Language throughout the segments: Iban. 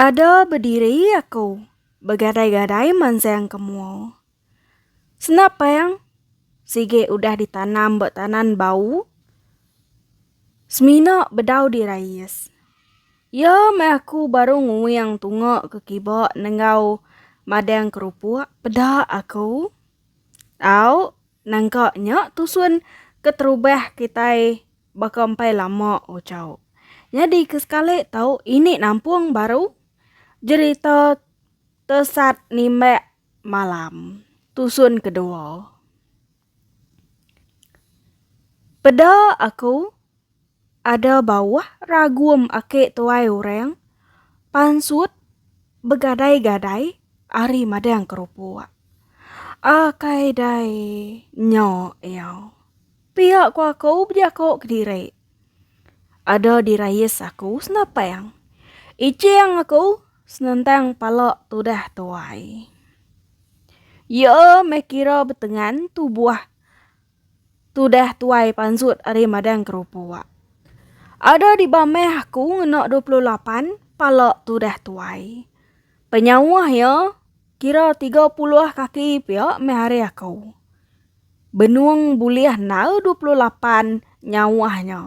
Ada bediri aku, begadai-gadai mansang ke mua. Senap pang, sigi udah ditanam ba tanan bau, semina bedau dirais. Iya meh aku baru nguing tunga ke kiba nenggau madang kerupuk, peda aku. Au, nangka nya tusun keterubah kitai Baka empai lama Ochau nyadi ke sekali tau ini nampung baru jerita Tesat Nimbak Malam tusun kedua. Peda aku ada bauh ragum aki tuai orang pansut begadai-gadai ari madang kerupuk. Akai dai nya iya. Pia ku aku bejako kediri. Ada dirayis aku senapang. Iching aku senentang pala tudah tuai. Iya meh kira betengan tubuh tudah tuai pansut ari madang kerupuk. Ada dibamah aku ngena dua puluh lapan pala tudah tuai. Penyauh iya. Kira tiga puluh kaki pia meh ari aku. Benung bulih enggau dua puluh lapan nyawa nya.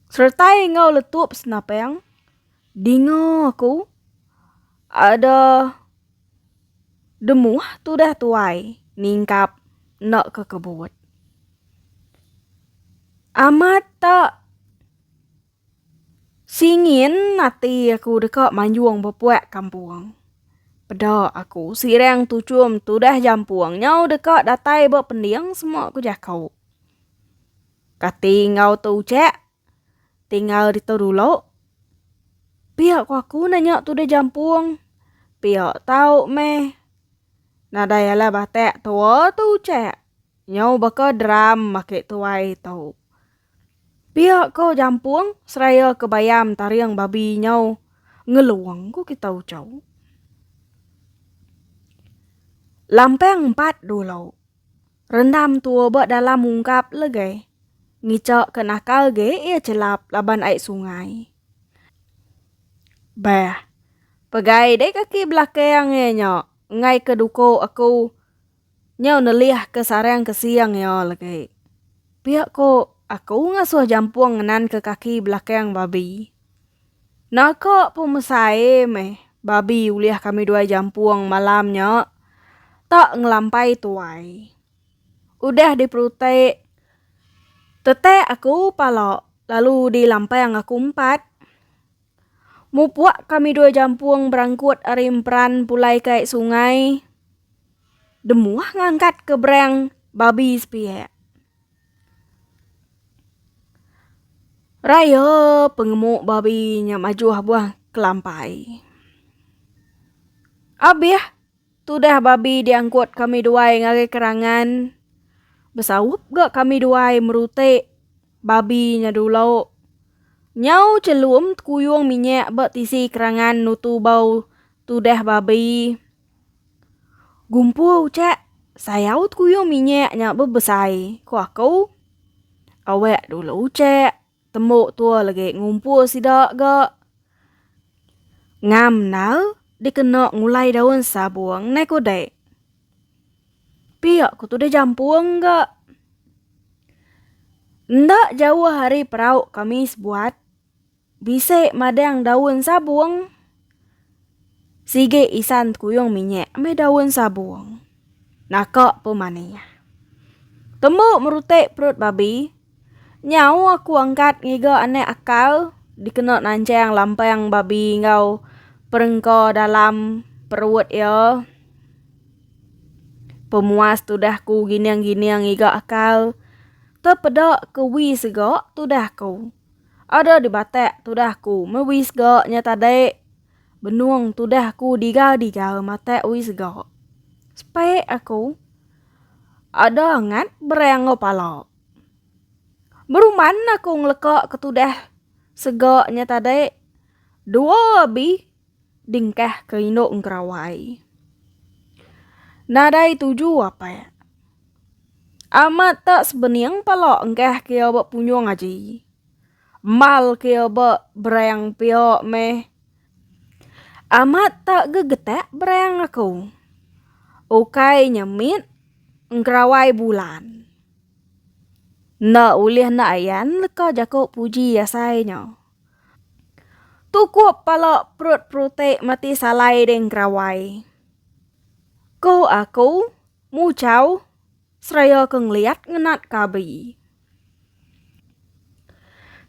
Seretai enggau letup senapang, dinga aku ada demuh tudah tuai ningkap enda ke kebut. Amat tak. Singin ati aku deka manjung bepuak kampung. Peda aku sirang tuchum tudah jampung nyau deka datai ba pending semua ku jaku. Kati enggau tu ucak tinggal ditu dulu. Pia ku aku nanya tudah jampung pia tau meh nadai alah batak tua tu ucak nyau baka drum ake tuai tu. Pia ko Jampung seraya ke bayam taring babi nyau ngelong ko kita ucau. Lampang empat dulu. Rendam tua ba dalam ungkap lege. Ngica ke nakal ge ia celap laban ai sungai. Beh. Pegai dek kaki belakang ia nya engai ke duko aku. Nyau nelih ke sarang ke siang iya legi. Pia ko aku ngasuh jampung ngenan ke kaki belakang babi. Naka pun mesai meh babi ulih kami duai jampung malam nya tak ngelampai tuai. Udah di perutik tetek aku pala lalu di lampang aku empat. Mupuk kami dua jampung berangkut ari emperan pulai ke ai sungai. Demuh ngangkat ke berang babi sepiak. Raya pengemu babi nya majuh buah kelampai. Abih. Tudah babi diangkut kami duai ngagai kerangan besaup ga kami duai merutik babi nya dulu. Nyau chelum tekuyung minyak ba tisi kerangan nutu bau tudah babi. Gumpu ucak sayau tekuyung minyak nya bebesai, ku aku. Awak dulu ucak. Tembu tua lagi ngumpul sida ga ngam nal dikena ngulai daun sabung nai ku dek. Pia ku tudah jampung ga. Enda jauh ari perau kami sebuat bisi madang daun sabung. Sigi isan kuyung minyak meh daun sabung. Naka pun manih. Tembu merutik perut babi. Nyau aku angkat ngiga anak akal dikena nanjang lampang babi enggau perengka dalam perut iya. Pemuas tudah ku gining-gining ngiga akal. Tepeda ke wi sega tudah ku. Ada di batak tudah ku me wis ga nya tadi. Benung tudah ku diga-diga matak wis ga. Spek aku. Ada angat berang enggau pala. Beruman aku ngeleka ke tudah sega nya tadi. Dua abi Dingkah ke indu engkerawai. Nadai tuju apak. Amat tak sebening pala engkah ke ba punyung aji. Mal ke ba berang pia meh. Amat tak gegetak berang aku. Ukai nya mit engkerawai bulan. Enda ulih nda ayan leka jaku puji asai nya. Tukup pala perut perutik mati salai ding kerawai. Ko aku, mucau, seraya ke ngeliat ngenat kabi.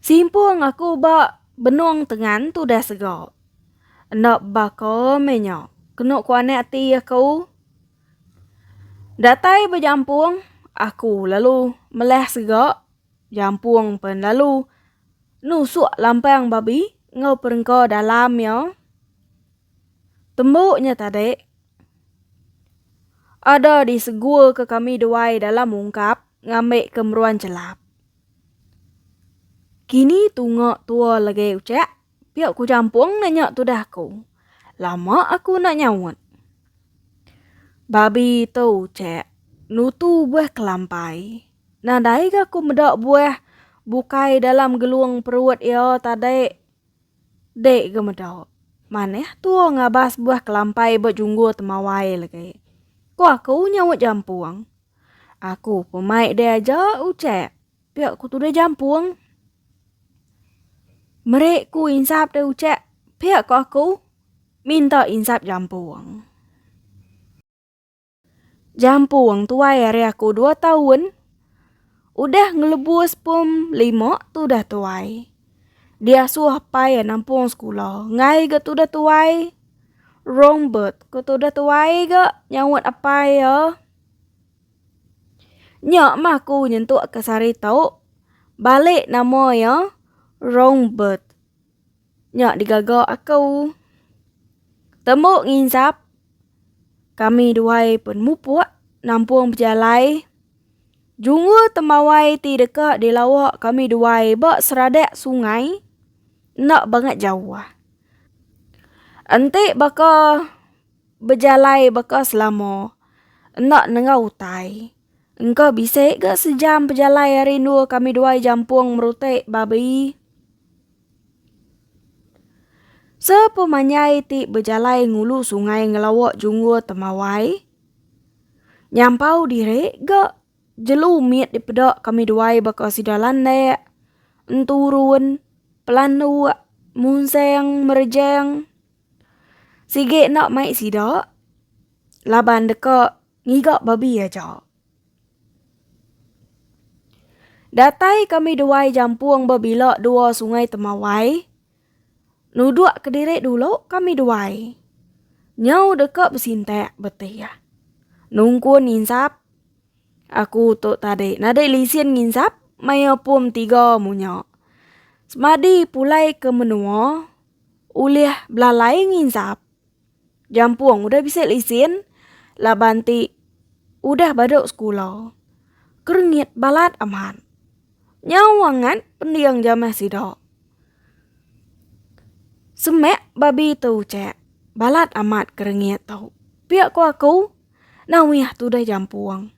Simpung aku ba benung tengan tudah sega. Enda baka meh nya, kenu ku anak ti aku. Datai bejampung, aku lalu melah sega Jampung pen lalu nusuk lampang babi enggau perengka dalam iya. Tembu nya tadi ada disegurka kami duai dalam ungkap ngambika meruan chelap. Kini tunga tua legi uchak Pia ku jampung ne nya tudah aku. Lama aku enda nyaut. Babi tu chek nutu buah kelampai. Nadai ga aku meda buah bukai dalam gelung perut iya tadi. Dek ga meda. Manah tua ngabas buah kelampai ba junggur temawai lagi. Ku aku nyaut jampung. Aku pun mai diaja uchek. Pia ku tudah jampung. Meri ku insap dah ucap. Pia ku aku. Minta insap jampung. Jampung tuai hari aku dua tahun. Udah ngelebus pum lima tudah tuai. Dia suah pai nampung sekula. Ngai ga tudah tuai. Rombert ku tudah tuai ga nyaut apai ya. Nya mah ku nyentuk ke sehari tu balik nama iya wrong birth nya digaga aku tembu nginsap kami dua penumupuk nampung pejalai jungul tembawai ti deka dilawa kami dua ba seradak sungai enda bangat jauh enti baka Bejalai baka selama enda nengah utai. Engka bisi ga sejam pejalai ari endur kami duai jampung merutik babi. Sepemanyai ti bejalai ngulu sungai ngelawa junggur temawai. Nyampau diri ga jelu mit dipeda kami duai baka sida landak, enturun, pelanduk, munseng, merejeng. Sigi enda mai sida laban deka ngiga babi aja. Datai kami duai jampung bebila dua sungai temawai. Nuduk kediri dulu kami duai. Nyau deka besintak beti iya. Nungkun nginsap. Aku tu tadi nadai lisin nginsap maya pum tiga munya. Semadi pulai ke menua ulih belalai nginsap jampung udah bisi lesen laban ti udah badu sekula. Kerengit balat amat. Nyau angat pending jamah sida. Semak babi tu ucak, balat amat kerengit tu. Pia ku aku, nah uyah tudah jampung.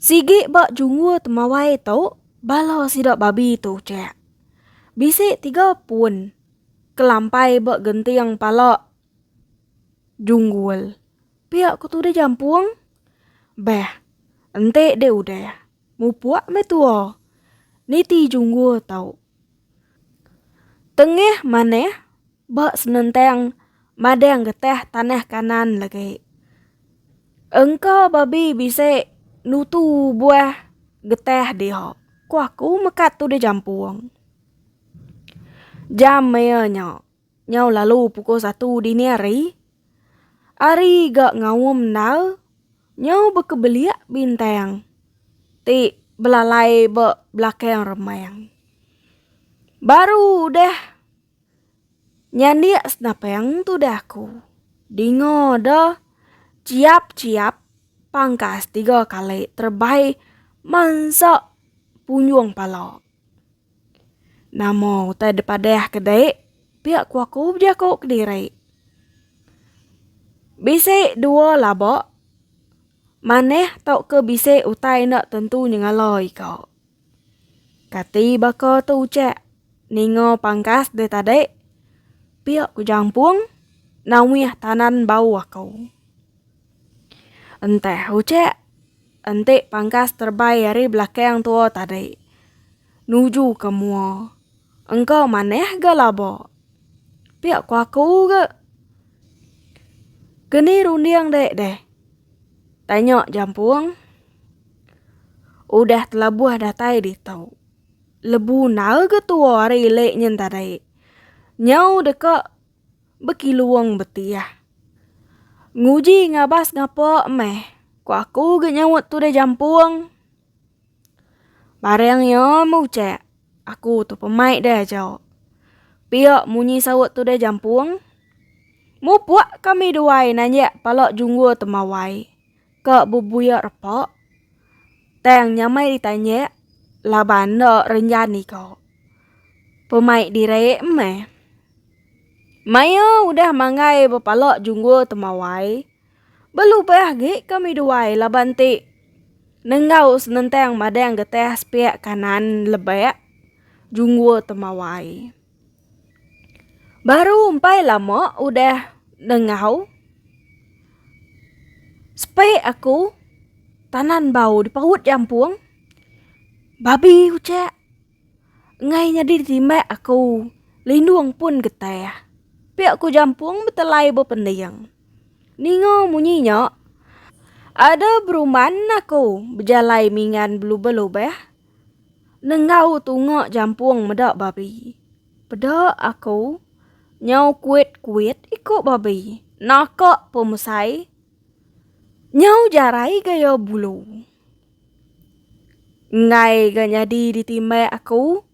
Sigi ba junggur temawai tu, bala sida babi tu cek. Bisi tiga pun kelampai ba genting pala junggur. Pia ku tu deh jampung. Beh, enti deh udah, mupuk meh tua. Niti junggur tu. Tengah manah Ba senentang madang getah tanah Kanaan lagi. Engka babi bisi nutu buah getah dia. Ku aku mekat tu dijampung. Jam maya nya, nyau lalu pukul satu dini hari, ari ga ngaum endar, nyau bekebelia bintang ti belalai ba belakang remang. Baru udah. Nyandik senapeng tudah ku. Dinga da chiap-chiap pangkas tiga kali terebai mansa punjung pala. Nama utai dipadah ke dek pia ku aku bejaku kediri. Bisi dua laba manah tauka bisi utai enda tentu nyengala ika. Kati baka tu ucak ninga pangkas deh tadi. Pia ku jampung nawih tanan bau aku. Entah ucak enti pangkas terbai ari belakang tua tadi nuju ke mua engka manah ga laba. Pia ku aku ga. Keni runding dek deh? Tanya jampung. Udah telabuh datai ditu. Lebu nal ga tua ari lek nyin tadi. Nyau deka bekilung betiah. Nguji ngabas ngapa meh ku aku ga nyaup tude jampung. Barang iya muchek aku tu pemai deh aja. Pia munyi saup tude jampung. Mupuk kami duai nanjak pala junggur temawai. Ka bebuyak repa. Tang nyamai ditanyak laban enda renjani ka. Pemaik direk meh. Maya udah manggai bepala junggul temawai. Belubah gi kami duai laban ti nenggau senentang madang getah sepiak kanan lebak junggul temawai. Baru umpai lama udah nengau spek aku tanan bau dipaut jampung babi ucak ngai nyadi timbak aku lindung pun getah pia ku jampung betelai bepending ninga munyi nya ada beruman aku bejalai mingan belubah lubah. Nenggau tunga jampung meda babi. Peda aku nyau kuit-kuit iko babi. Naka pemesai nyau jarai gaya bulu. Enggai ga nyadi ditimbai aku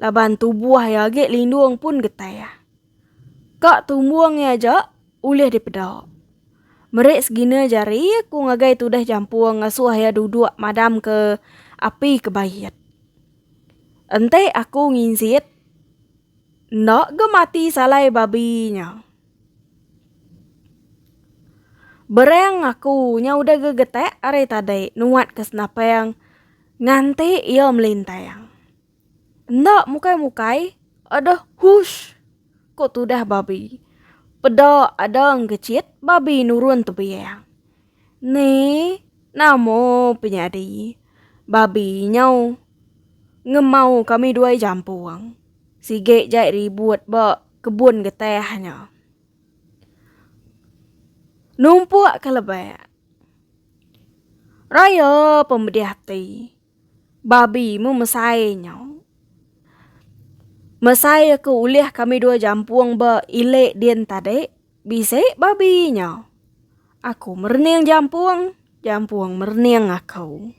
laban tubuh iya agi lindung pun getih. Ka tumbung iya aja ulih dipeda. Meri segina jari aku ngagai tudah jampung ngasuh iya duduk madam ke api ke bait. Enti aku nginsit enda ga mati salai babi nya. Bereng aku nya udah ga getek ari tadi nuat ke senapang nganti iya melintang. Enda mukai-mukai, ada hush! ko tudah babi. Peda ada engkecit, babi nurun tebiang. Ni, nama pe nyadi? Babi nyau ngemau kami duai jampung. Sigi jai ribut ba kebun getah nya. Numpuk ke lebak. Raya pemedih ati. Babi mu mesai nyau. Mesai aku ulih kami dua jampung ba ile din tadi, bisi babi nyau. Aku merening jampung, jampung merening aku.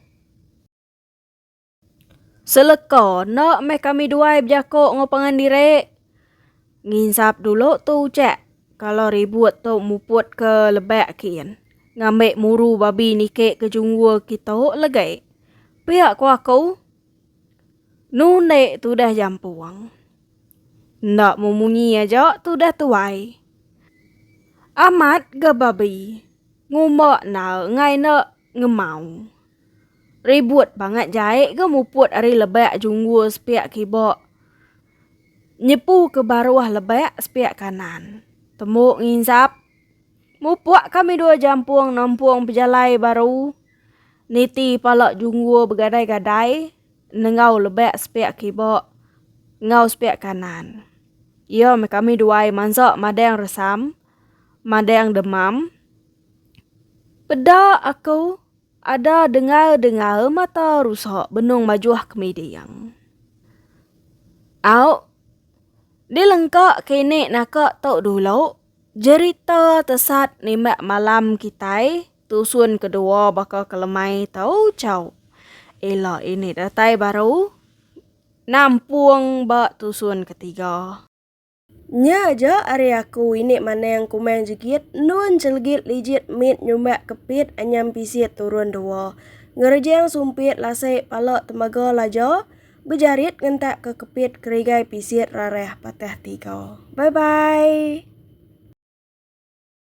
Seleka enda meh kami duai bejako enggau pangan diri. Nginsap dulu tu ucak kalo ribut tu muput ke lebak kin ngambi muru babi niki ke junggu kitu legi. Pia ku aku nu ende tudah jampung. Enda mu munyi aja tudah tuai. Amat ga babi ngumba enda engai enda ngemau. Ribut bangat jai ga muput ari lebak junggu sepiak kiba Nyepu ke baruh lebak sepiak kanan. Tembu nginsap. Mupuk kami dua jampung nempung pejalai baru. Niti pala junggur begadai-gadai nenggau lebak sepiak kibok enggau sepiak kanan. Iya meh kami duai mansa madang resam, madang demam. Peda aku. Ada dengar dengar mata rusak benung majuh ke miding. Au. Di lengka kini naka tu dulu jerita tesat nimbak malam kitai tusun kedua baka ke lemai tu chau. Ila ini datai baru nampung ba tusun ketiga. Nya aja ari aku ini maneng kumang jegit endun celegit lijit mit nyumbak kepit anyam pisit turun dua. Ngerejang sumpit lasai pala temaga laja bejarit ngentak ke kepit kerigai pisit rarah patah tiga. Bye bye.